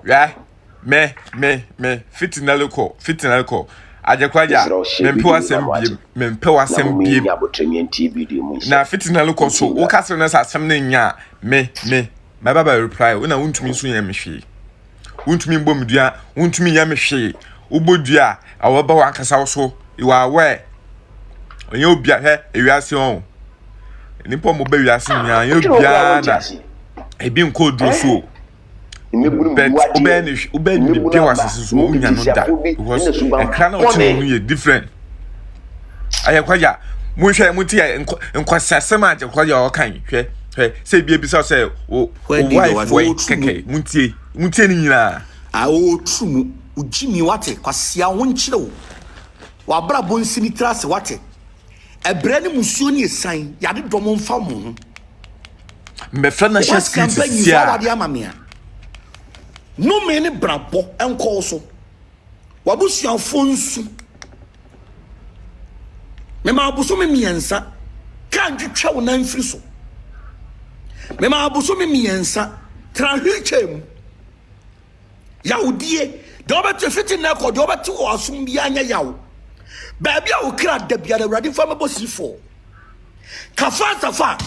Hwɛ, me, me, me, fitinali kɔ, fitinali kɔ. Agyekwagya, mempɛ w'asɛm biem, mempɛ w'asɛm biem. Na fitinali kɔ so, wo ka sɛ na sɛ asɛm no nya a, me, me, mɛba bɛ reply wo na wontumi nso nyɛ me hwee. Wontumi mbɔ me dua, wontumi nyɛ me hwee. Wobɔ dua a, wɔbɛba w'ankasa wo so. You are aware. Ɔnyɛ obia, hwɛ, ewiase ɔn. Nipa ɔmo bɛ wiase nyinaa, ɔnyɛ obiara na ebi nkɔ duro so o. but wobɛyɛ ne wobɛyɛ ne biribi wɔ asase so wonya no da because ɛkra na ɔte no no yɛ different ayɛ kɔya monhwɛ mo ti yɛ nkɔsasɛm a kɔya ɔkan hwɛ hwɛ sɛ ebi ebisa sɛ o wife wɔ kɛkɛ mo tie mo tie ne nyinaa a ɔturu mu ogyimi wate kwasea ho nkyerɛw wabrabɔ nsini tra ase wate Ɛbrɛ ne musuo ne ɛsan yade dɔm mfa mo ho. Mbɛfrɛ national security sia. Wɔ sika mpa wade ama mea. Nome ne brabɔ nkɔɔ so. Wabusuafoɔ nsu. Mema abosome mmiɛnsa. Kaa ntwitwa wo nan firi so. Mema abosome mmiɛnsa. Tra wheelchair mu. Yawdie, deɛ wobɛte fiti nnɛ kɔ, deɛ wobɛte wɔ asom biara nyɛ yaw. Baabi a wo kra da biara, Awurade fa mɛbɔ sifoɔ. Kafa safa,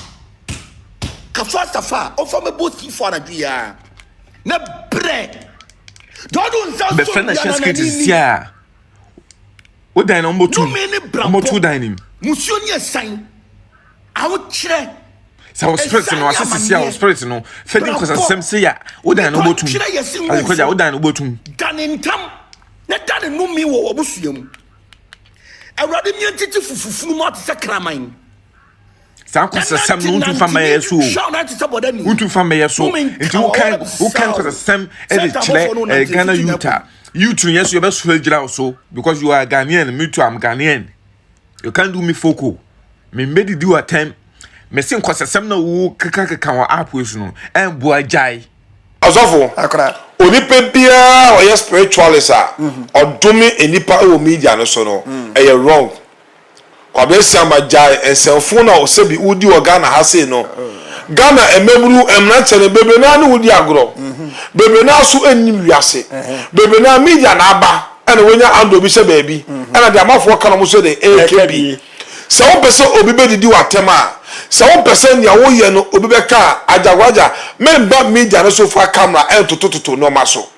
kafa safa, ɔfa mɛbɔ sifoɔ anadwo yi ara. Na brɛ, deɛ ɔde nsa so bɛfɛ na hyɛ skate sisi a wo dan na ɔmɔtu ɔmɔtu dan nim musuo ne ɛsan awokyerɛ sɛ wo spirit no ase sisi a wo spirit no fɛ di nkɔsasɛm se yɛ wodan no botum adekɔgya wodan no botum dane ntam na dane nome wɔ wɔbosua mu awurade mmea ntete fufufunu mu ate sɛ kraman saa nkɔsasɛm no wontu fa mmɛyɛ so o wontu fa mmɛyɛ so nti wokan wokan nkɔsasɛm de kyerɛ ghana youth a youth no yɛ so yɛbɛsoro agyina wo so because you are ghanaian me too am ghanaian You can't do me folk o. Me mbedidi wo atɛm. Me se nkɔsɛsɛm na wo keka keka wɔ app wei so no. Ɛmboa gyae. Ɔsɔfo, onipa biara a ɔyɛ spiritualist a ɔdome nnipa wɔ media no so no, ɛyɛ wrong. Kwabena Asiamah, gyae nsɛmfoo no a sɛbi wodi wɔ Ghana ha sei no. Ghana mmabunu, mmranteɛ no, bebree no ara ne wo di agorɔ. Bebree no ara nso nnim wiase. Bebree no ara, media na aba. ɛna wanya andɔ bi sɛ baabi ɛna deɛ amafoɔ ka no mo sɛ de ɛɛkɛ bi sɛ wompɛ sɛ obi bɛdidi w'atɛm a sɛ wompɛ sɛ nea woyɛ no obi bɛka a agyagwagya memba media no so fa camera ɛntotototo nnoɔma so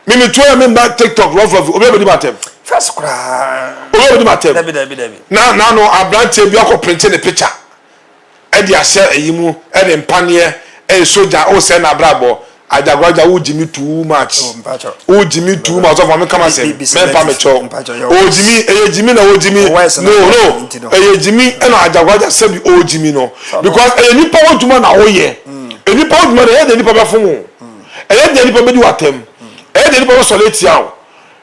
me metuo yɛ memba tiktok run for view obi abɛdi m'atɛm fɛs koraa obi abɛdi m'atɛm na na no aberanteɛ bi akɔ printe ne picture de ahyɛ ayi mu de mpaneɛ ɛyɛ sogya o sɛ na abrabɔ adagoragya wo gyimi too much wo gyimi too much ɔsɔfo ame kama sɛ mɛmpa me kyɛw o gyimi ɛyɛ gyimi na o gyimi no no ɛyɛ gyimi ɛna adagoragya sɛbi o gyimi no because ɛyɛ nipa wo dwuma na o yɛ nipa wo dwuma na ɛyɛ deɛ nipa bɛfo mu ɛyɛ deɛ nipa bɛdi watam ɛyɛ deɛ nipa bɛsɔre atia o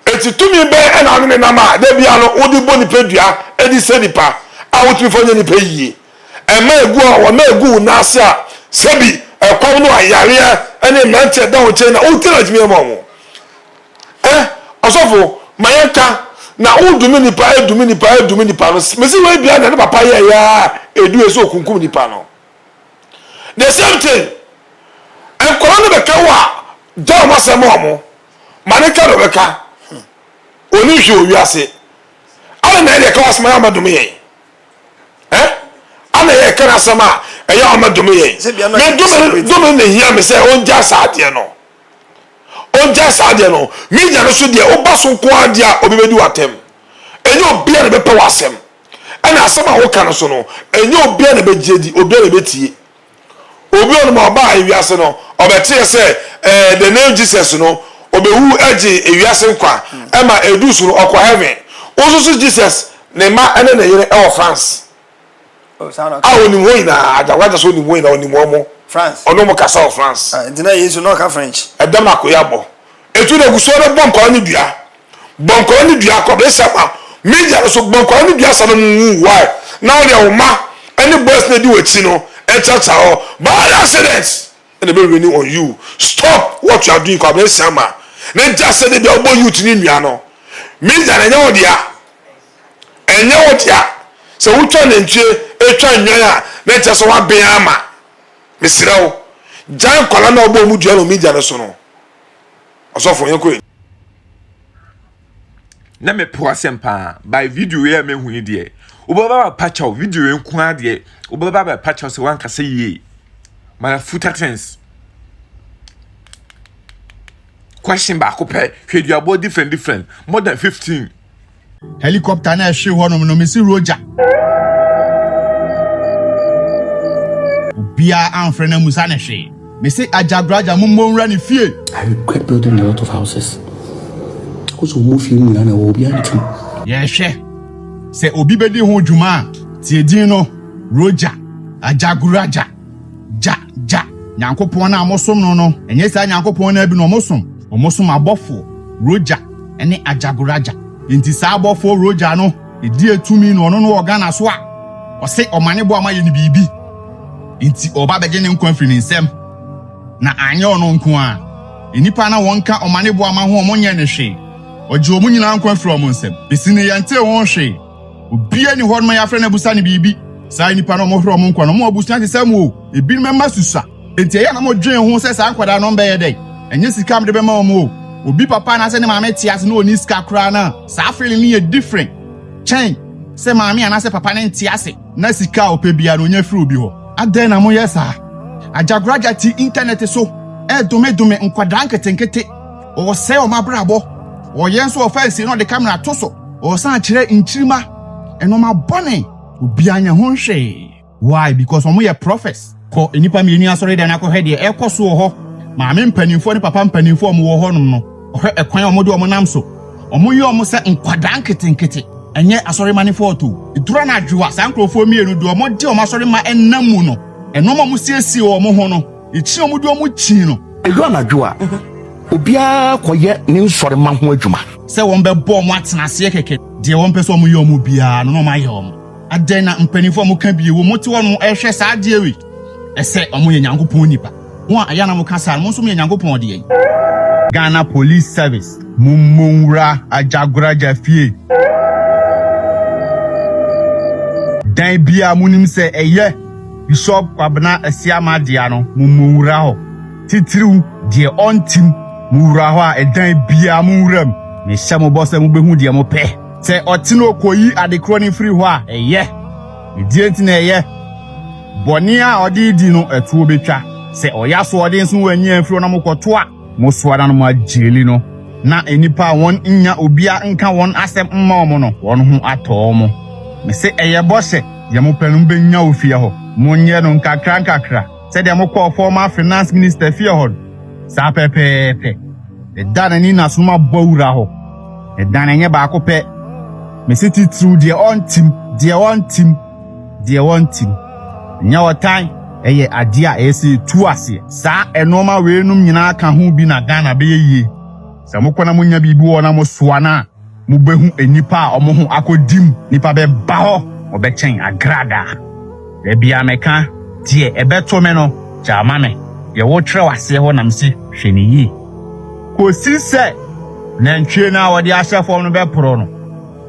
Enti tumi bɛn na wone ne nam a da biara no wode bɔ nipadua de sɛ nnipa a wotumi fa nyɛ nnipa yiye? Ɛmma egu a wɔma egu wo nan ase a sɛ bi ɛkɔm no a yareɛ ne mmerante a ɛda wo nkyɛn na wote na ɛtumi ma wɔn ɛ ɔsɔfo ma yɛn ka na wodumi nipa ɛdumi nipa ɛdumi nipa no mesi wei bia na ne papa yɛ ya edu yɛ sɛ okunkum nipa no the same thing nkɔla no bɛka wo a gya wɔn asɛm wɔn ma ne twa dɔbɛ ka ɔni nhwe wɔ wiase ana na ɛde ɛka wasɛm ayɛ ɔma dome yɛn ɛ ana yɛ ɛka n'asɛm a ɛyɛ ɔma dome yɛn me dome dome na hia me sɛ ɔngya saa adeɛ no ɔngya saa adeɛ no me nya no so deɛ woba so nko adeɛ a obi bɛdi w'atɛm ɛnyɛ obi a na bɛpɛ w'asɛm ɛna asɛm a woka no so no ɛnyɛ obi a na bɛgye di obi a na bɛtie Obi a ɔnom a ɔbaa ewiase no, ɔbɛteɛ sɛ, eh, the name Jesus no, obewu gye ewiase nkwa, ɛma edu so no ɔkɔ heaven. Wo nso so Jesus, ne mma ne ne yere ɛwɔ France. Oh, saa na ɔka. A onim hɔ nyinaa, agyakwagya so onim hɔ nyinaa, onim wɔn mo. France. Ɔno mo kasa wɔ France. Ah, nti na Yesu na ɔka French. Ɛdɛm na akoya bɔ. Etu na egu so ɔde bɔ nkwadaa no dua. bɔnkɔɔ ne dua kɔbere sɛ ma media no so bɔnkɔɔ ne dua sane mu wu why na wo deɛ wo ma ɛne boys na di wakyi no ɛntratra hɔ bad accident ɛna ɛbɛ rainy on you stop what you are doing kɔbere sɛ ma ne gya sɛ de bia wobɔ youth ne nua no media no ɛnyɛ wo dea ɛnyɛ wo dea sɛ wotwa nantwie ɛtwa nnwan a na ɛkyɛ sɛ woaben ama mesrɛ wo gyan kɔla na wobɔ mu dua no media no so no Ɔsɔfo yɛn kɔ. Na me po asɛm paa by video yɛ me hu yi deɛ wobɛba ba pakyɛw video yɛ nko ara deɛ wobɛba ba pakyɛw sɛ wankasa yie my futa things question baako pɛ hwɛ duabɔ different different more than fifteen Helicopter na ɛhwee hɔnom no, mesi Roger. Obiara amfrɛ na musa ne hwee. Mese Agya Graja mo mmɔ nwura ne fie. I regret building a lot of houses. Because wɔn fie nyinaa na ɛwɔ obiara ntam. Yɛhwɛ sɛ obi bɛdi ho dwuma a, tie din no, Roger Ajaguraja. Gya, gya, Nyankopɔn no a mosom no no, ɛnyɛ saa Nyankopɔn no abi na wɔsom. Wɔsom abɔfoɔ, Roja, ne Ajagoraja. Enti saa abɔfoɔ Roja no deɛ tumi na ɔno no wɔ Ghana so a, ɔse ɔmane boa ma yɛ no biribi. Enti ɔɔba bɛgye ne nkwa firi ne nsam. Na anyɛ ɔno nko ara, nnipa na wɔnka ɔmane boa ma ho wɔn nyɛɛ no hwee. Ɔgyee wɔn nyinaa nkwa firii wɔn nsam. Besi nnɛ yɛntee ho hwee. Obiara ni hɔ no ma yɛafrɛ no abusa no biribi. Saa nnipa no, wɔhwere wɔn nkwa no, wɔn abusua te sɛ mo o. Ebinom mma susua. Enti ɛyɛ a na wɔdwen ho sɛ saa nkwadaa no bɛyɛ dɛn? Ɛnyɛ sika a mede bɛma wɔn o. Obi papa anaasɛ ne maame te ase na onni sika koraa no a, saa feeling no yɛ different kyɛn sɛ maame anaasɛ papa no nte ase na sika a ɔpɛ biara no onya firi obi hɔ. Adɛn na moyɛ saa? Agyagoragya te Intanɛt so redomedome nkwadaa nketenkete. Ɔsɛe wɔn abrabɔ. Ɔyɛ nso ɔfa nsie na ɔde kamera to so. Ɔsan kyerɛ nkyirimma, nnoɔma bɔne. Obiara nyɛ ho hwee. Why? Because wɔn yɛ prophets. Kɔ nnipa mmienu asɔredan na kɔhwɛ deɛ ɛrekɔ so wɔ hɔ. Maame mpanimfoɔ ne papa mpanimfoɔ a wɔn wɔ hɔ nom no, hwɛ ɛkwan a wɔn de wɔn nam so. Wɔn yɛ wɔn sɛ nkwadaa nketenkete. Ɛnyɛ asɔre mma ne fault o. Ɛduru anadwo a, saa nkorɔfoɔ mmienu deɛ wɔn de wɔn asɔre mma nam mu no, nnoɔma a wɔn siesie wɔn ho no. Ekyin a wɔde wɔn kyin no. Edu anadwo a, obiara kɔyɛ ne nsɔremma ho adwuma. Sɛ wɔbɛbɔ wɔn atena aseɛ kɛkɛ. Deɛ wɔmpɛ sɛ wɔyɛ wɔn biara no na wɔayɛ wɔn. Adɛn na mpanimfoɔ a wɔka bi wɔ mu te hɔ no rehwɛ saa adeɛ wei? Ɛsɛ wɔyɛ Nyankopɔn nipa. Mo a ɛyɛ a na moka saa no, mo nso moyɛ Nyankopɔn deɛn? Ghana Police Service, Mommɔ Nwura Agyagoraja Fie! Dan biara monim sɛ ɛyɛ. Bishop Kwabena Asiamah dea no mo mmɔ nwura hɔ, titiriw deɛ ɔntim mo wura hɔ a ɛdan biara mo nwura mu. Mehyɛ mo bɔ sɛ mobɛhu deɛ mo pɛ. Sɛ ɔte no ɔkɔyi adekorɔ no firi hɔ a, ɛyɛ. Ne deɛ nti na ɛyɛ. Bɔne a ɔde redi no, ɛtoɔ bɛtwa. Sɛ ɔyɛ asoɔden nso wanyi amfiri hɔ na mokɔto a, Mosoa na no mo agyeli no, na nnipa a wɔn nnya obia nka wɔn asɛm mma wɔn no, wɔn ho atɔ wɔn. Mese ɛyɛ bɔhyɛ, deɛ mo pɛ no mo bɛnya wɔ fie hɔ. Monyɛ no nkakra nkakra, sɛdeɛ mo kɔɔ former finance minister fie hɔ no. Saa pɛpɛɛpɛ. Ne da na ni na so no ma bɔ wura hɔ. Ne da na ɛnyɛ baako pɛ. Mese titiriw deɛ ɔntim, deɛ ɔntim. deɛ wɔntim. Ɛnyɛ ɔtan, ɛyɛ adeɛ a ɛyɛ sɛ yɛtu aseɛ. Saa nnoɔma weinom nyinaa ka ho bi na Ghana bɛyɛ yie. Sɛ mokɔ na monya biribi wɔ hɔ na mosoa no a, mobɛhu nnipa a wɔn ho akɔdi mu. Nnipa bɛba hɔ, wɔbɛkyɛn agradaa. Da biara meka, Deɛ ɛbɛto me no, gyaa ma me. Deɛ wotwerɛ aseɛ hɔ na mese hwɛ no yie. Kɔsi sɛ nantwie no a wɔde ahyɛ fam no bɛporo no.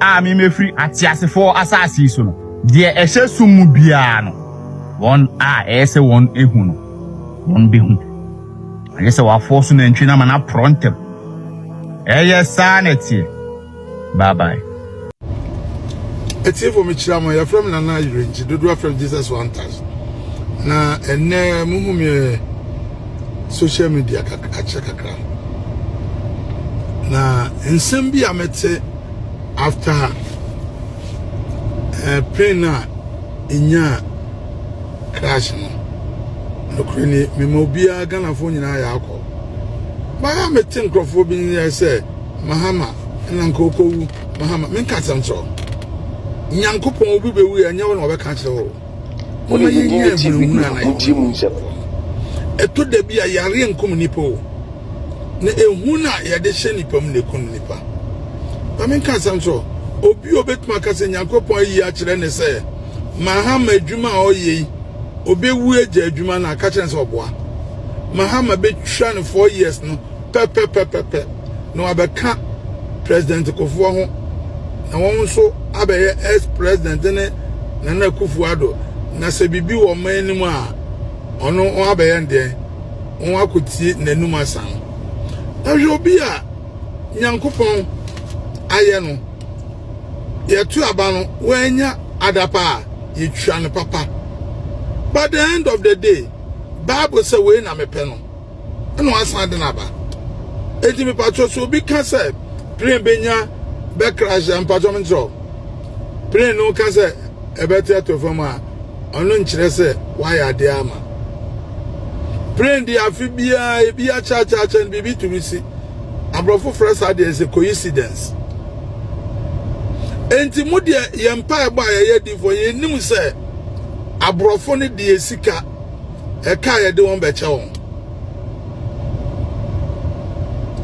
a memefiri ateasefoɔ asase yi so no, deɛ ɛhyɛ sum mu biara no, wɔn a ɛyɛ sɛ wɔn ehu no, wɔn behu. Ɛyɛ sɛ wɔafoɔ so nantwie no ama no aporɔ ntɛm. Ɛyɛ saa na ɛteɛ. Bye bye. Atiefo mekyira mo yɛfrɛ me nana yerɛnkyi dodoɔ afrɛ jesus one touch na ɛnɛ muhu me eh, social media akyɛ kakra na nsɛm bi a mete after ɛɛ pain a enyaa crash no nokore ni mema obiara ghanafoɔ nyinaa yɛ akɔ baa mete nkurɔfoɔ bi nyɛ sɛ mahama ɛna nka okowu mahama menka asɛm kyerɛ nyankopɔn obi bɛwu yɛ ɛnyɛ wo na ɔbɛka kyerɛ wo moma yɛnyɛ ahunahuna na yɛwɔ ɛtɔ da bi a yareɛ nkum nipa o na ehu no a yɛde hyɛ nipa mu na eku no nipa maame nka asɛm so obi a obetumi aka sɛ nyankopɔn ayi akyerɛ ne sɛ mahama adwuma a ɔyɛ yi obewu agya adwuma no aka kyerɛ sɛ ɔboa mahama betwa no four years no pɛpɛpɛpɛpɛ na wabɛka president kofoɔ ho na wɔn nso abɛyɛ ex president ne nana kufuado na sɛ biribi wɔ ɔman anim a ɔno abɛyɛ ndeɛn wɔn akotie n'anum asa no na hwɛ obi a nyankopɔn ayɛ no yɛto aba no wɔanya adapa a yɛtwa no papa but the end of the day bible sɛ wei na mepɛ no ɛna wasan de no aba enti mepatwɔ so obi ka sɛ plane bɛnya bɛkrahyɛ mpatwɔ menkyerɛ plane no ka sɛ ɛbɛte ato fam a ɔno nkyerɛ sɛ wayɛ adeɛ ama plane deɛ afe biara ebi akyɛakyɛakyɛ no biribi tumi si aborɔfo frɛ saa deɛ sɛ coincidence enti mo deɛ yɛn mpaebɔ a yɛyɛ difoɔ yɛnim sɛ aborɔfo no deɛ sika ɛka yɛde wɔn bɛkyɛ wɔn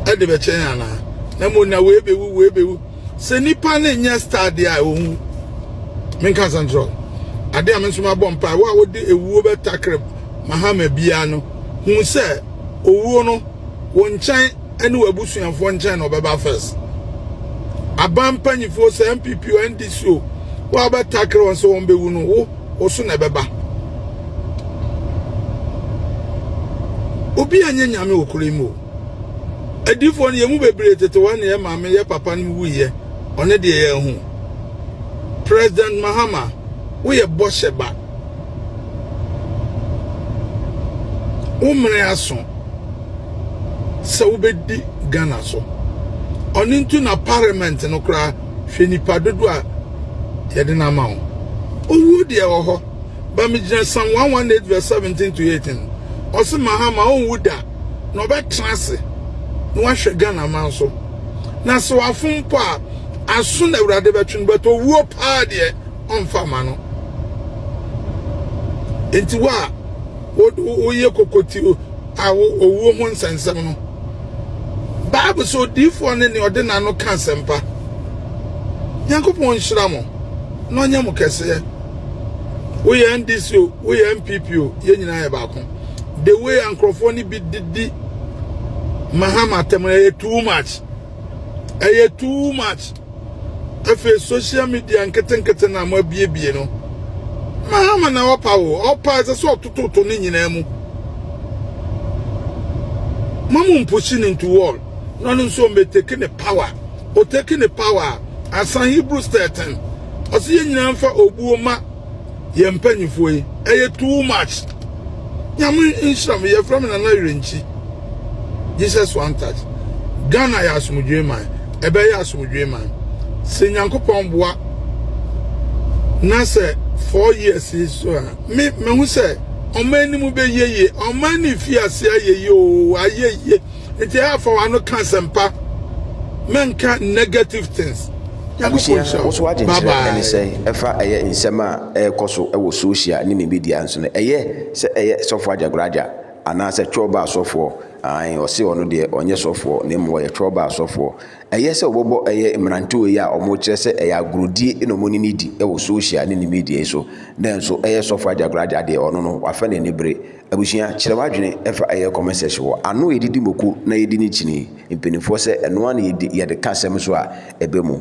ɛde bɛkyɛ yɛn anaa na mo na wei bɛwu wei bɛwu Sɛ nipa ne nyɛ star deɛ a owu. Menka asɛm kyerɛ wo. Ade a me nso mabɔ mpae wo a wode ewuo bɛtakere mahama biara no hu sɛ owuo no wo nkyɛn ne w'abusuafoɔ nkyɛn na ɔbɛba first. Aban mpanyifoɔ sɛ NPP o NDC o wo a wobɛtakere wɔn sɛ wɔn bɛwu no wo wo so na ɛbɛba. Obi a nyɛ nyame wɔ kuro yi mu o. Adiyifoɔ no, yɛn mu bebree tete hɔ na yɛn maame, yɛn papa nom wuiɛ, ɔne deɛ yɛahu. President Mahama, woyɛ bɔhyɛ ba. Wo mmere aso sɛ wobɛdi Ghana so. Ɔno nti na parliament no koraa hwɛ nipa dodo a yɛde no ama wo. Owuo deɛ wɔ hɔ, ba megyina Psalm 118 verse 17 to 18. Ɔse Mahama ɔnwu da. na ɔbɛtena ase na wahwɛ Ghana man so. Na sɛ wafom mpo a, aso na Awurade bɛtwe no, but owuo paa deɛ ɔmfa ma no. Enti wo a woyɛ kokoti a owuo ho nsɛnsɛm no, Bible sɛ odiyifoɔ ne nea ɔde n'ano ka asɛmpa. Nyankopɔn nhyira mo na ɔnyɛ mo kɛseɛ. Woyɛ NDC o, woyɛ NPP o, yɛn nyinaa yɛ baako. the way a nkurɔfoɔ no bi didi mahama atɛm no ɛyɛ too much ɛyɛ too much afei social media nketenkete na mo abiebie no mahama na ɔpa wo ɔpa ɛsɛ sɛ ɔtototo ne nyinaa mu mamu mpushi ne nto wall na ɔno nso ɔmɛteki ne power ɔteki ne power asan hebrews 13 ɔsɛ yɛ nyinaa mfa obuo ma yɛn mpanyinfoɔ yi ɛyɛ too much nyame nhyira me yɛfrɛ me nana yɛrenkyi jesus one touch ghana yɛ asomdwee man ɛbɛyɛ asomdwee man sɛ nyankopɔn boa na sɛ four years yi so a me mehu sɛ ɔman no mu bɛyɛ yie ɔman no fi ase ayɛ yie oo ayɛ yie Nti haa fa wano ka asɛmpa mɛnka negative things Abusua wo so agye nkyerɛ ɛne sɛn ɛfa ɛyɛ nsɛm a ɛɛkɔso ɛwɔ social ne ne media nso no ɛyɛ sɛ ɛyɛ sɔfoɔ agyagoraagya anaa sɛ twɛɔbaa sɔfoɔ aane ɔse ɔno deɛ ɔnyɛ sɔfoɔ na mmom ɔyɛ twɛɔbaa sɔfoɔ ɛyɛ sɛ ɔbɔbɔ ɛyɛ mmerantewa yi a ɔmo kyerɛ sɛ ɛyɛ agorɔdie na ɔmo ne ne di ɛwɔ social ne ne media yi so nanso ɛyɛ sɔfoɔ agyagoraagya deɛ ɔno no wafɛ n'ani bere Abusua, kyerɛ w'adwene ɛfa ɛyɛ comment section hɔ ano a yɛdidi moko na yɛdi ne kyini mpanyinfoɔ sɛ ɛno ara na yɛdi yɛde ka asɛm so a ɛbɛ mu.